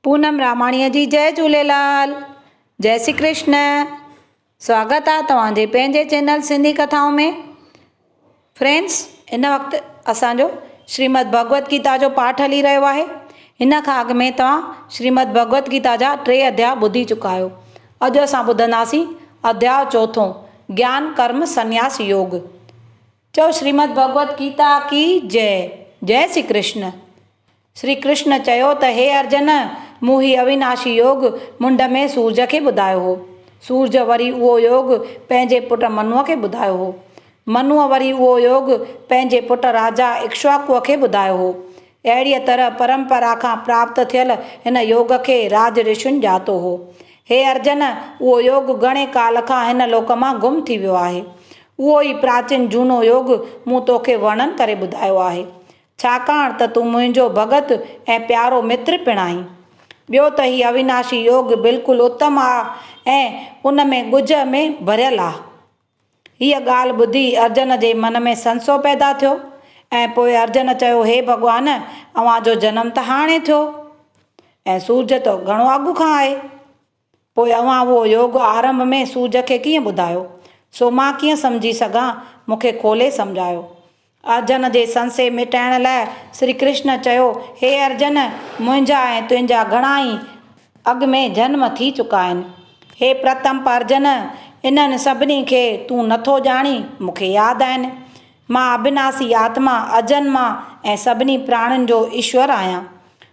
پونم راماڻيء جي جئه جهوليلال جئه سي ڪرشن سواگت آ توهان جي پنهنجي چينل سنڌي ڪٿائون ۾ فرينڊس هن وقت اسان جو شريمد ڀڳوت گيتا جو پاٺ هلي رهيو آهي هن کان اڳ ۾ توهان شريمد ڀڳوت گيتا جا ٽي اڌيا ٻڌي چڪا آهيو اڄ اسان ٻڌنداسين اڌيا چوٿون گيان ڪرم سنياس يوگ چئو شريمد ڀڳوت گيتا ڪي جئه جئه سي ڪرشن شري ڪرشن چيو ته هي ارجن! مون هي اويناشي يوگ منڍ ۾ سورج کي ٻڌايو هو. سورج وري اهو يوگ پنهنجي پٽ منوء کي ٻڌايو هو. منوء وري اهو يوگ پنهنجي پٽ راجا اڪشواڪوء کي ٻڌايو هو. اهڙيء طرح پرمپرا کان پراپت ٿيل هن يوگ کي راج رشين ڄاتو هو. هي ارجن! اهو يوگ گهڻي ڪال کان هن لوڪ مان گم ٿي ويو آهي. اهو ئي پراچين جهونو يوگ مون توکي ورڻن ڪري ٻڌايو آهي. ڇاڪاڻ ته تون منهنجو ڀڳت ۽ پيارو متر پڻ آهين. ٻيو ته هي اويناشي يوگ بلڪل اتم آ ۽ ان ۾ ڳجهه ۾ ڀريل آ. هيء ڳالهه ٻڌي ارجن جي من ۾ سنسو پيدا ٿيو ۽ پوء ارجن چيو هي ڀڳوان اوهان جو جنم ته هاڻي ٿيو ۽ سورج ته گهڻو اڳ کان آهي. پوء اوهان اهو يوگ آرنڀ ۾ سوج کي ڪيئن ٻڌايو؟ سو مان ڪيئن سمجهي سگهان؟ مون کي کولي سمجهايو. ارجن جي سنسي مٽائڻ لاء شري ڪرشن چيو، هي ارجن! منهنجا ۽ تنهنجا گهڻا ئي اڳ ۾ جنم ٿي چڪا آهن. هي پرتم پرجن! انهن سڀني کي تون نه ٿو ڄاڻين، مون کي ياد آهن. مان اڀناسي آتما، اجنما ۽ سڀني پراڻين جو ايشور آهيان.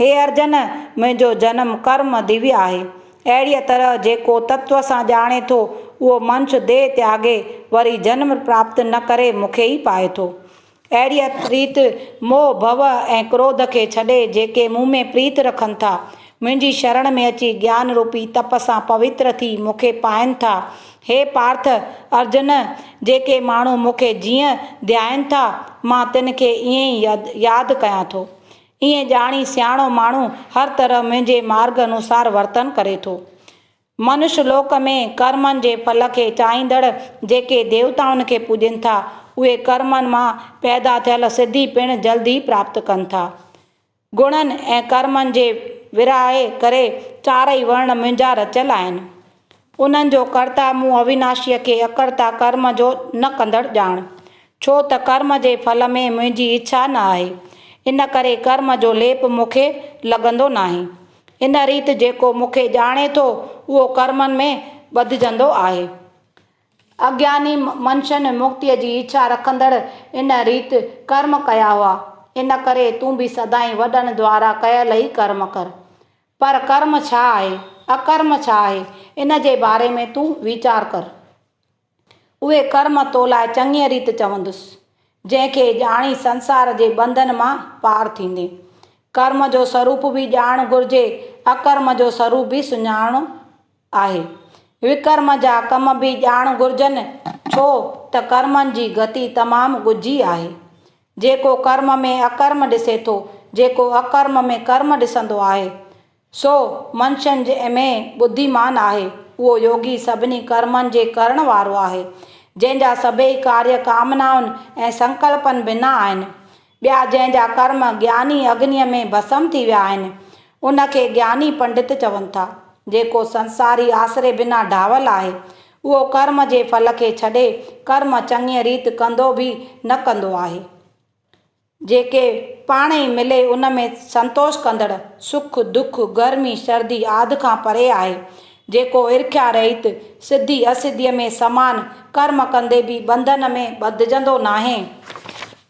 هي ارجن! منهنجو جنم ڪرم ديوي آهي. اهڙيء طرح جيڪو تتوه سان ڄاڻي ٿو، اهو منش ديهه تياڳي وري جنم پراپت نه ڪري مون کي ئي پائي ٿو. اهڙيء ريت موهه، ڀو ۽ ڪروڌ کي ڇڏي جيڪي مون ۾ پريت رکن ٿا، منهنجي شرڻ ۾ اچي گيان روپي تپ سان پوتر ٿي مون کي پائين ٿا. هي پارٿ! ارجن! جيڪي ماڻهو مون کي جيئن ڌيائين ٿا، مان تن کي ائين ئي ياد ڪيان ٿو. ائين ڄاڻي سياڻو ماڻهو هر طرح منهنجي مارگ انوسار ورتن ڪري ٿو. منش لوڪ ۾ ڪرمن جي ڦل کي چاهيندڙ جيڪي ديوتائن کي پوڄين ٿا، اهي ڪرمن مان پيدا ٿيل سڌي پڻ جلد ئي پراپت ڪن ٿا. گڻن ۽ ڪرمن جي ورهائي ڪري چارئي ورڻ منهنجا رچيل آهن. انهن جو ڪرتا مون اويناشيء کي اڪرتا ڪرم جو نه ڪندڙ ڄاڻ، ڇو ته ڪرم جي ڦل ۾ منهنجي اڇا نه آهي، ان ڪري ڪرم جو ليپ مون کي لڳندو ناهي. ان ريت جيڪو مون کي ڄاڻي ٿو، اهو ڪرمن ۾ ٻڌجندو آهي. اگياني منشن مڪتيء جي اڇا رکندڙ ان ريت ڪرم ڪيا هئا، ان ڪري تون به سدائين وڏن دوارا ڪيل ئي ڪرم ڪر. پر ڪرم ڇا آهي، اڪرم ڇا آهي، ان جي باري ۾ تون ويچار ڪر. اهي ڪرم تو لاء چڱيء ريت چوندس، جنهن کي ڄاڻي سنسار جي ٻنڌن مان پار ٿيندين. ڪرم جو سروپ به ڄاڻڻ گهرجي، اڪرم جو سروپ به سڃاڻڻو آهي. وڪرم جا ڪم به ڄاڻڻ گهرجن، ڇو ته ڪرمن جي گتي تمام ڳجهي آهي. جيڪو ڪرم ۾ اڪرم ڏسي ٿو، جيڪو اڪرم ۾ ڪرم ڏسندو آهي، سو منشين ۾ ٻڌيمان آهي. اهو يوگي سڀني ڪرمن جي ڪرڻ وارو آهي، جنهن جا سڀيئي ڪاريه ڪامنائن ۽ سنڪلپن بنا آهن. ٻيا جنهن جا ڪرم گياني اگنيء ۾ ڀسم ٿي ويا آهن، ان کي گياني پنڊت چون ٿا. جيڪو سنساري آسري بنا ڊاهول آهي، اهو ڪرم جي ڦل کي ڇڏي ڪرم چڱيء ريت ڪندو به نه ڪندو آهي. جيڪي پاڻ ئي ملي ان ۾ سنتوش ڪندڙ، سک، دک، گرمي، سردي آد کان پري آهي. جيڪو ارکيا رهيت، سڌي اسڌيء ۾ سمان، ڪرم ڪندي به ٻنڌن ۾ ٻڌجندو ناهي.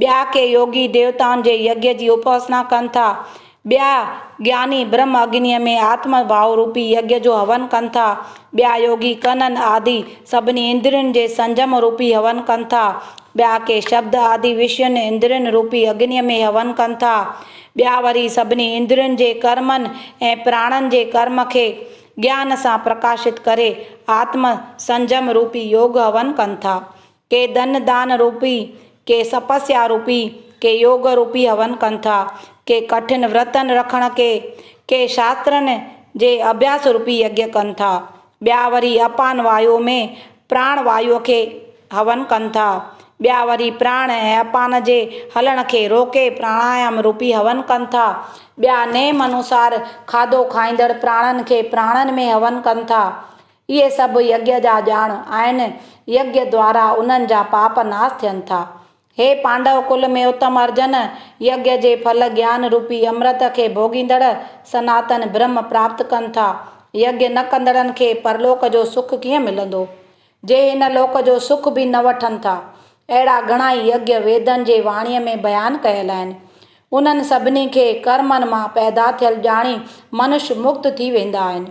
ٻيا ڪي يوگي ديوتائن جي يگيا جي اپاسنا ڪن ٿا. ٻيا گياني برهم اگنيء ۾ آتم ڀاو روپي يگيا جو هون ڪن ٿا. ٻيا يوگي ڪنن آدي سڀني اندرين جي سنجم روپي هون ڪن ٿا. ٻيا ڪي شبد آدي وشين اندرين روپي اگنيء ۾ هون ڪن ٿا. ٻيا وري سڀني اندرين جي ڪرمن ۽ پراڻن جي ڪرم کي گيان سان پرڪاشت ڪري آتم سنجم روپي يوگ هون ڪن ٿا. ڪي ڌن دان روپي، ڪي سپسيا روپي، ڪي يوگ روپي هون ڪن ٿا، ڪي ڪٺن ورتن رکڻ ڪي، ڪي شاسترن جي اڀياس روپي يگيا ڪن ٿا، ٻيا وري اپان وايو ۾ پراڻ وايو کي هون ڪن ٿا، ٻيا وري پراڻ ۽ اپان جي هلڻ کي روڪي پراڻايام روپي هون ڪن ٿا، ٻيا نيم انوسار کاڌو کائيندڙ پراڻن کي پراڻن ۾ هون ڪن ٿا، اهي سڀ يگيا جا ڄاڻ آهن، يگيا دوارا انهن جا پاپ ناس ٿين ٿا. هي پانڊو ڪل ۾ اتم ارجن، يگيا جي ڦل گيان روپي امرت کي ڀوڳيندڙ سناتن برهم پراپت ڪن ٿا. يگيا نه ڪندڙن کي پرلوڪ جو سک ڪيئن ملندو؟ جي هن لوڪ جو سک به نه وٺن ٿا. اهڙا گهڻائي يگيا ويدن جي واڻيء ۾ بيان ڪيل آهن. انهن سڀني کي ڪرمن مان پيدا ٿيل ڄاڻي منش مڪت ٿي ويندا آهن.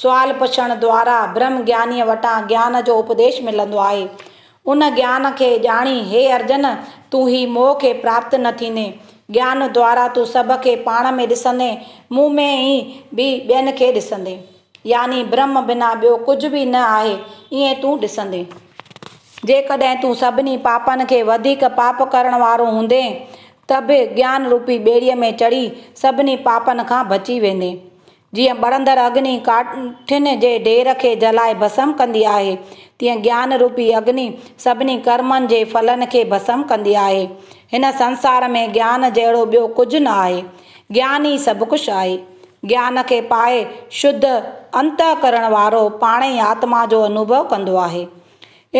سوال پڇڻ دوارا برهم گيانيء وٽان گيان جو اپديش ملندو آهي. ان گيان کي ڄاڻي هي ارجن! تون هي موهه کي پراپت نه ٿيندين. گيان دوارا تون سڀ کي پاڻ ۾ ڏسندين، مون ۾ ئي به ٻين کي ڏسندين. يعني برهم بنا ٻيو ڪجهه به نه آهي، ائين تون ڏسندين. جيڪڏهن تون سڀني پاپن کي وڌيڪ پاپ ڪرڻ وارو هوندين ته به گيان روپي ٻيڙيء ۾ چڙهي سڀني پاپن کان بچي ويندين. جيئن ٻرندڙ اگني ڪاٺين جي ڍير کي جلائي ڀسم ڪندي آهي، تيئن گيان روپي اگني سڀني ڪرمن جي ڦلن کي ڀسم ڪندي آهي. هن سنسار ۾ گيان جهڙو ٻيو ڪجهه نه آهي. گيان ئي سڀ ڪجهه آهي. گيان کي پائي شڌ انتهڪرڻ وارو پاڻ ئي آتما جو انوڀو ڪندو آهي.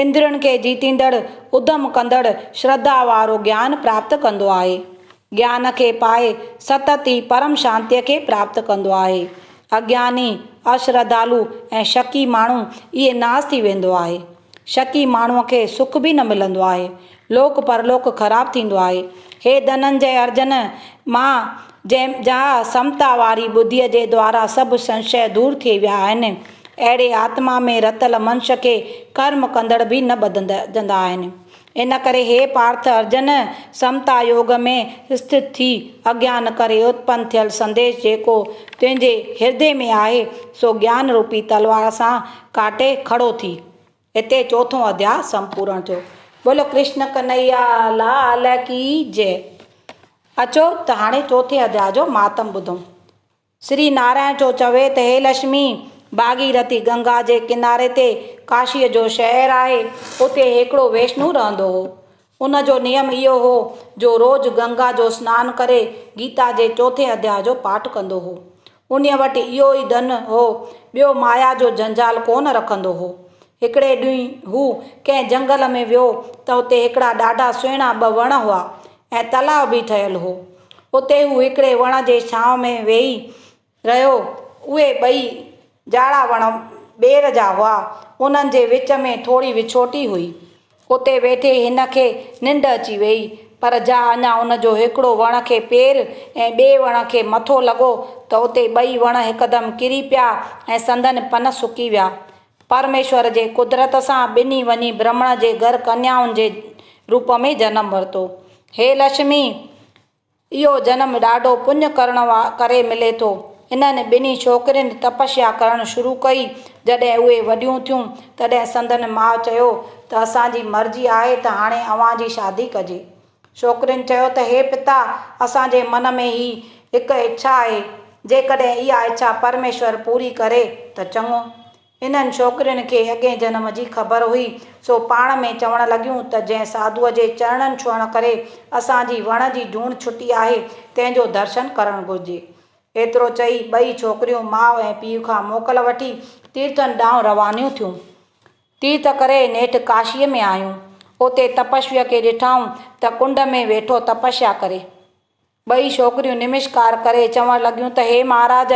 اندرين کي جيتيندڙ، اڌم ڪندڙ، شرڌا وارو گيان پراپت ڪندو آهي. گيان کي پائي ستت ئي پرم شانتيء کي پراپت ڪندو آهي. اگياني، اشرڌالو ۽ شڪي ماڻهو ايئن ناس ٿي ويندو آهي. شڪي ماڻهوء کي سک به نه ملندو آهي. لوڪ پرلوڪ خراب ٿيندو آهي. هي ڌننجئه ارجن، مان جنهن جاء سمتا واري ٻڌيء جي دوارا سڀ سنشيه دور ٿئي ويا آهن، اهڙي آتما ۾ رتل منش کي ڪرم ڪندڙ به نه ٻڌجندا آهن. ان ڪري هي پارٿ ارجن سمتا يوگ ۾ اسٿت ٿي، اگيان ڪري اتپن ٿيل سنديش جيڪو تنهنجي هردي ۾ آهي، سو گيان روپي تلوار سان ڪاٽي کڙو ٿي. هتي چوٿون اڌياء سمپورڻ ٿيو. بولو ڪرشن ڪنهيا لال ڪي جئه. اچو ته هاڻي چوٿين اڌياء جو مهاتم ٻڌون. سري نارائڻ جو چوي ته هي لشمي، ڀاڳيرٿي، گنگا جي ڪناري تي ڪاشيء جو شهر آهي، اتي هيڪڙو ويشنو رهندو هو. ان جو نيم اهو هو جو روز گنگا جو سنان ڪري گيتا جي چوٿين اڌيا جو پاٺ ڪندو هو. انهيء وٽ اهو ئي ڌن هو، ٻيو مايا جو جنجال ڪو نه رکندو هو. هڪڙي ڏينهن هو ڪنهن جنگل ۾ ويو ته اتي هڪڙا ڏاڍا سهڻا ٻه وڻ هئا، ۽ تلاء به ٺهيل هو. اتي هو هڪڙي وڻ جي ڇانو ۾ ويهي رهيو. اهي ٻئي جاڙا وڻ ٻير جا هئا. انهن جي وچ ۾ ٿوري وڇوٽي هئي. اتي ويٺي هن کي ننڊ اچي ويئي. پر جا اڃا هن جو هڪڙو وڻ کي پير ۽ ٻئي وڻ کي مٿو لڳو ته اتي ٻئي وڻ هڪدم ڪري پيا ۽ سندن پن سڪي ويا. پرميشور جي قدرت سان ٻنهي وڃي برهمڻ جي گهر ڪنيائن جي روپ ۾ جنم ورتو. هي لشمي! اهو جنم ڏاڍو پڃ ڪرڻ ڪري ملي ٿو. انهن ٻنهي ڇوڪرين تپسيا ڪرڻ شروع ڪئي. جڏهن اهي وڏيون ٿيون، تڏهن سندن ماء چيو ته اسان جي مرضي آهي ته هاڻي اوهان جي شادي ڪجي. ڇوڪرين چيو ته هي پتا اسان جي من ۾ هي هڪ اڇا آهي، جيڪڏهن اها اڇا پرميشور پوري ڪري ته چڱو. انهن ڇوڪرين کي اڳئين جنم جي خبر هئي، سو پاڻ ۾ چوڻ لڳيون ته جنهن ساڌوء جي چرڻن ڇهڻ ڪري اسان جي وڻ جي جوڻ ڇٽي آهي، تنهن جو درشن ڪرڻ گهرجي. ايترو چئي ٻئي ڇوڪريون ماء ۽ پيء کان موڪل وٺي تيرٿن ڏانهن روانيون ٿيون. تيرٿ ڪري نيٺ ڪاشيء ۾ آيون. اتي تپسويء کي ڏٺائون ته ڪنڊ ۾ ويٺو تپسيا ڪري. ٻئي ڇوڪريون نمسڪار ڪري چوڻ لڳيون ته هي مهاراج!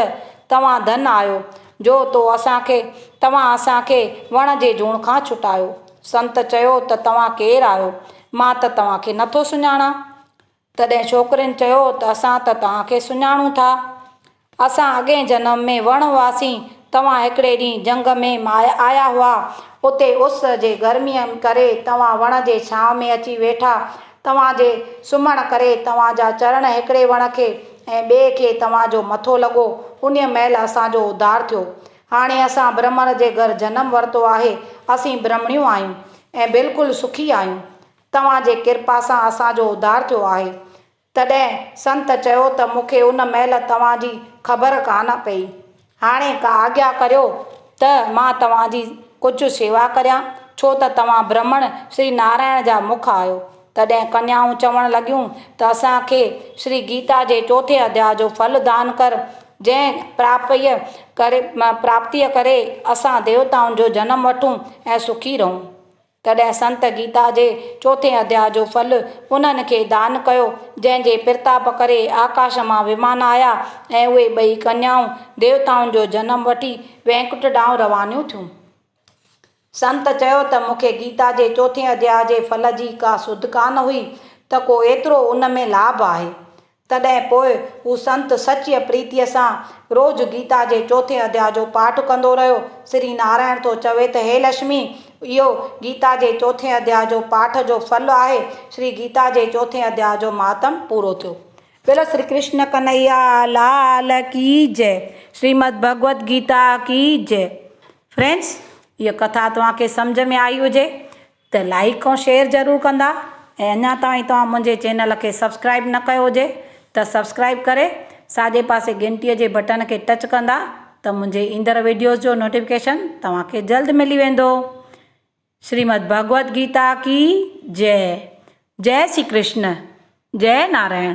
توهان ڌن آهيو، جو تو اسان کي توهان اسان کي وڻ جي جوڻ کان ڇٽايو. سنت چيو ته توهان ڪير آهيو؟ مان ته توهان کي نٿو سڃاڻان. تڏهن ڇوڪرين چيو ته اسان ته توهان کي سڃاڻون ٿا. اسان اڳئين جنم ۾ وڻ هئاسين. توهان هڪڙي ڏينهن جهنگ ۾ ماهي آيا هئا. اتي اس جي گرميء ڪري توهان وڻ جي ڇانو ۾ اچي ويٺا. توهان جي سمهڻ ڪري توهان جا چرڻ هڪڙي وڻ کي ۽ ٻئي کي توهان جو مٿو لڳو. انهيء مهل اسان جو اڌار ٿيو. هاڻي اسان برهمڻ جي گهر جنم ورتو آهي. اسين برهمڻيون آهيون ۽ بلڪل سکي آهيون. توهان جي ڪرپا سان اسان جو اڌار ٿيو آهي. تڏهن سنت چيو ته مون کي ان مهل توهان جي خبر ڪانه پئي. هاڻي آگيا ڪريو ته مان توهان جي ڪجهه شيوا ڪريان، ڇو ته توهان برهمڻ شري نارائڻ جا مک آهيو. تڏهن ڪنيائون چوڻ لڳيون ته اسان کي شري گيتا جي چوٿين اڌياء جو ڦل دان ڪر، جنهن پراپيء ڪري پراپتيء ڪري اسان ديوتائن جو جنم وٺون ۽ سکي رهون. تڏهن سنت گيتا جي چوٿين اڌياء جو ڦل انهن کي دان ڪيو، جنهن جي پرتاپ ڪري آڪاش مان ومان آيا ۽ اهي ٻئي ڪنيائون ديوتائن جو جنم وٺي وينڪٽ ڏانهن روانيون ٿيون. سنت چيو ته مون کي گيتا جي چوٿين اڌياء جي ڦل جي ڪا سڌ ڪانه هئي ته ڪو ايترو ان ۾ لاڀ آهي. تڏهن پوء هو سنت سچيء پريتيء سان روز گيتا جي چوٿين اڌيا جو پاٺ ڪندو رهيو. سري نارائڻ ٿو چوي ته هي لشمي! اهو گيتا جي چوٿين اڌيا جو پاٺ جو ڦل آهي. شري گيتا جي چوٿين اڌيا جو مهاتم پورو ٿيو. بيل شري ڪرشن ڪنهيا لال ڪي جئه شريمد ڀڳوت گيتا ڪي جئه فرينڊس هيء ڪٿا توهان کي سمجهه ۾ آئي هجي ته لائيڪ ۽ شيئر ضرور ڪندا ۽ اڃا تائين توهان منهنجي چينل کي سبسڪرائيب نه ڪيو هجي ته سبسڪرائيب ڪري ساڄي پاسي گهنٽي جي بٽڻ کي ٽچ ڪندا ته منهنجي ايندڙ ويڊيوز جو نوٽيفڪيشن توهان کي جلد ملي ويندو شريمد ڀڳوت گيتا ڪي جئه جئه شري ڪرشن جئه نارائڻ.